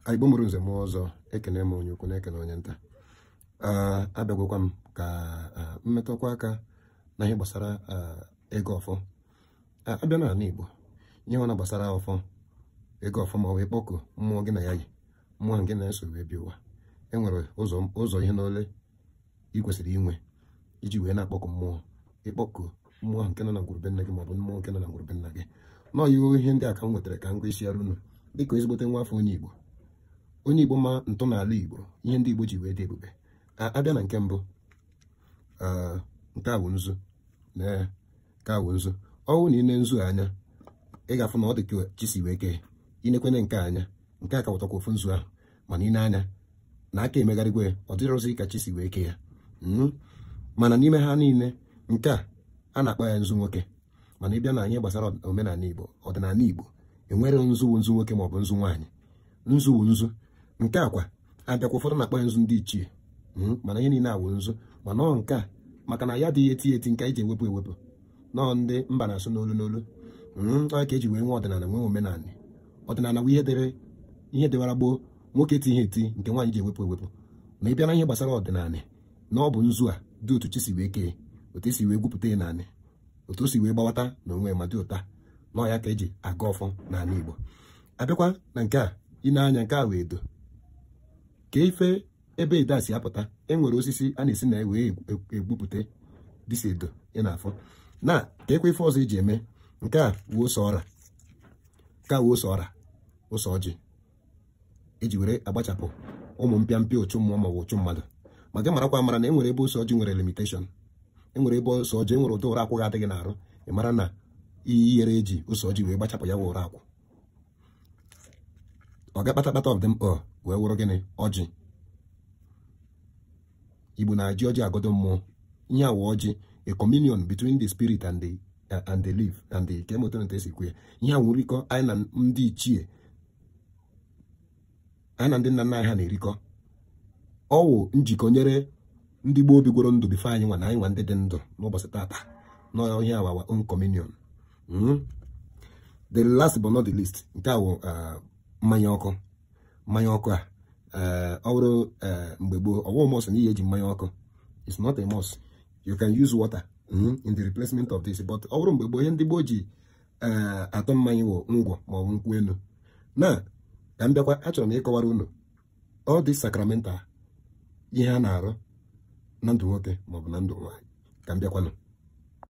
anị Igbo mụrụ nze mụọ ọzọ ekenee m onye ukwu na-ekene onye nta abịagwakwa m ka m metụkwa aka na ihe gbasara ịgọ ọfọ a bịa n'anị Igbo ihe nwana gbasara ọfọ ịgọ ọfọ ma ọ bụ ịkpọku mmụọ gị na ya yi mmụọ gị na ya so wee bịa ụwa enwere ụzọ ihe n'ole ị kwesịrị inwe iji wee na-akpọku mmụọ ịkpọku mmụọ ahụ nke nọ na ngwuru be nna gị maọbụ mmụọ nke nọ na ngwuru be nna gị nọọ ya ihe ndị a ka m wetara ka m kọwasịara unu dịka ezigbote nwa afọ onye Igbo onye Igbo ma ntọala Igbo ihe ndị Igbo ji wee dị ebube a bịa na nke mbụ nke a wụ nzu na nke a wụ nzu ọ wụ na i nee nzu anya ị ga-afụ na ọ dị ka chi si wee kee i nekwanụ nke a anya nke a ka wụkwa ofu nzu ahụ mana i nee anya na aka emegharịgwo ya ọ dịrọzi ka chi si wee ke ya hmm? mana n'ime ha niile nke a a na-akpọ ya nzu nwoke mana ị bịa na ihe gbasara omenala igbo ọdịnanị igbo enwere nzu bụ nzu nwoke maọbụ nzu nwaanyị nzu wụ nzu nke a kwa a bịakwa ụfọdụ na-akpọ ya nzu ndị ichie hmm? mana ihe niile a wụ nzu mana ọ nke a maka na ya adịghị etiye etiye nke e ji ewepụ ewepụ na ọ ndị mba na-asụ n'olu n'olu hmm, ka eji wee nwee ọdịnala nwee omenala ọdịnala bụ ihe dịrị ihe dịwara gboo nwoke tiye etiye nke nwaanyị ji ewepụ ewepụ ma ị bịa na ihe gbasara ọdịnala na ọ bụ nzu a dị otu chi si wee kee otu esi wee gwupụta ya naanị otu o si wee gbawata na onwe ma dị otu a na ọ ya ka eji agọ ọfọ n'ala Igbo a bịakwa na nke a i nee anya nke a wụ edo ka ife ebe edo a si apụta e nwere osisi a na-esi na wee egbupụta dịsi edo ị na-afụ nke a kwa ife ọzọ eji eme nke a wụ ose ọra nke a wụ ose ọra ose ọjị eji were agbachapụ ụmụ mpịa mpịa uchu mmụọ ma ọ bụ uchu mmadụ ma ka ị marakwa amara na e nwere ebe ose ọjị nwere limitation e nwere ebe ose ọjị e nwere ụdị uru akwụ ga-adị gị n'arụ ị mara na ị yarọ eji ose ọjị wee gbachapụ ya wụ uru akwụ ọga kpatakpata of them all wee wụrụ gịnị ọjị igbo na-eji ọjị agọdo mmụọ ihe a wụ ọjị a communion between the spirit and the uh, and the living and the kee otu unu te esi ekwu ya ihe a wụ nrikọ anyị na ndị ichie ha na ndị nna nna anyị ha na-erikọ ọ wụ njikọ nyere ndị gboo bigworo ndụ before anyị nwa na anyị nwa ndị dị ndụ n'ụbọchị tata na ihe a wụ our own communion hmm? the last but not the least nke a wụ uh, mmanya ọkụ mmanya ọkụ a uh, ọ bụrụ uh, mgbe gboo ọ wụ must na ị ya eji mmanya ọkụ it's not a must you can use water hmm, in the replacement of this but ọ bụrụ mgbe gboo ihe ndị gboo ji eh, atụ mmanya wụ ngwọ ma ọ bụ nkwụ enu na ka m bịakwa achọrọ m ịkọwara unu all these sacramental ihe a na-arụ na ndụ nwoke maọbụ na ndụ nwaanyị ka m bịakwanụ